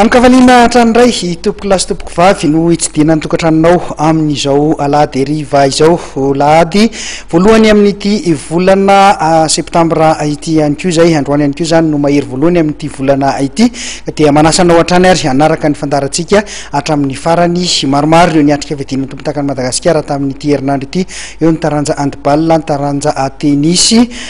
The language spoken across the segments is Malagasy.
Amin-kafaliana hatrany indray i tompoko lahy sy tompoko vavy no hitsidihana ny tokantranonao amin'izao alahady hariva izao, alahady voalohany amin'ity volana septambra ity ihany koa izay, androany ihany koa izany no mahery voalohany amin'ity volana ity, ka dia manasa anao hatrany ary hanaraka ny fandaharantsika hatramin'ny farany, maromaro ireo niatrika fiadiana ny tompontakan'i Madagasikara tamin'ity herinandro ity, eo ny taranja handball, ny taranja tenisy.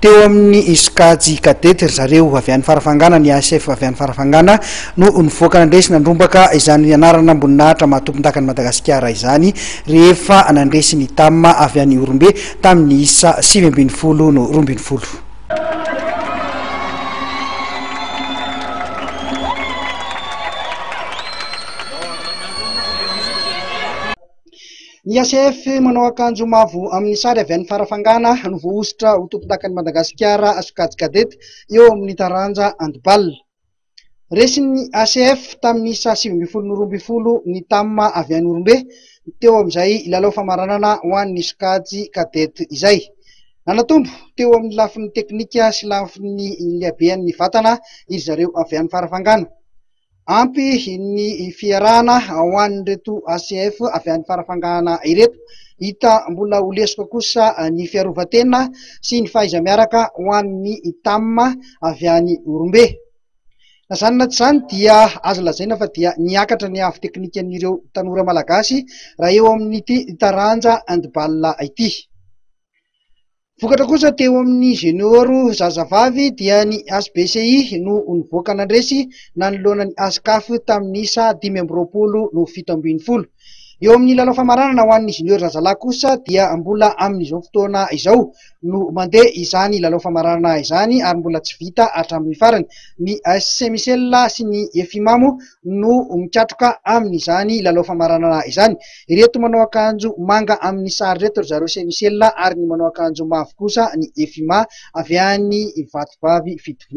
Teo amin'ny sokajy cadet ry zareo, avy any Farafangana, ny ASF avy any Farafangana no nivoaka nandresy nandrombaka izany anaran'amboninahitra maha tompondakan'i Madagasikara izany rehefa nandresy ny Tam avy any Ihorombe tamin'ny isa sivy ambin'ny folo no roa ambin'ny folo. Ny HCF manao akanjo mavo amin'ny sary avy any Farafangana no voahosotra ho tompondakan'i Madagasikara sokajy Cadet eo amin'ny taranja Handball. Resin'ny HCF tamin'ny isa sivy ambin'ny folo no roa ambin'ny folo ny Tam avy any Ihorombe teo amin'izay lalao famaranana ho an'ny sokajy Cadet izay. Nanatombo teo amin'ny lafiny teknika sy lafiny lehabehan'ny vatana iry zareo avy any Farafangana. Ampy ny fiarahana ho an'ireto ACF avy any Farafangana ireto. Hita mbola ho lesoka kosa ny fiarovan-tena sy ny fahaiza-miaraka ho an'ny Tam avy any Ihorombe. Na izany na tsy izany dia azo lazaina fa dia niakatra ny avo teknikan'ireo tanora malagasy raha eo amin'ity taranja handball ity. Vokatra kosa teo amin'ny Junior zazavavy dia ny HBCI no nivoaka nandresy nanoloana ny Ascaf tamin'ny isa dimy amby roapolo no fito ambin'ny folo. Eo amin'ny lalao famaranana ho an'ny Junior zazalahy kosa dia mbola amin'izao fotoana izao no mandeha izany lalao famaranana izany ary mbola tsy vita hatramin'ny farany. Ny AS Saint Michel sy ny Efimamo no mikatroka amin'izany lalao famaranana izany. Ireto manao akanjo manga amin'ny sary ireto ry zareo Semicelà ary ny manao akanjo mavo kosa ny Efima avy any Vatovavy Fitovinany.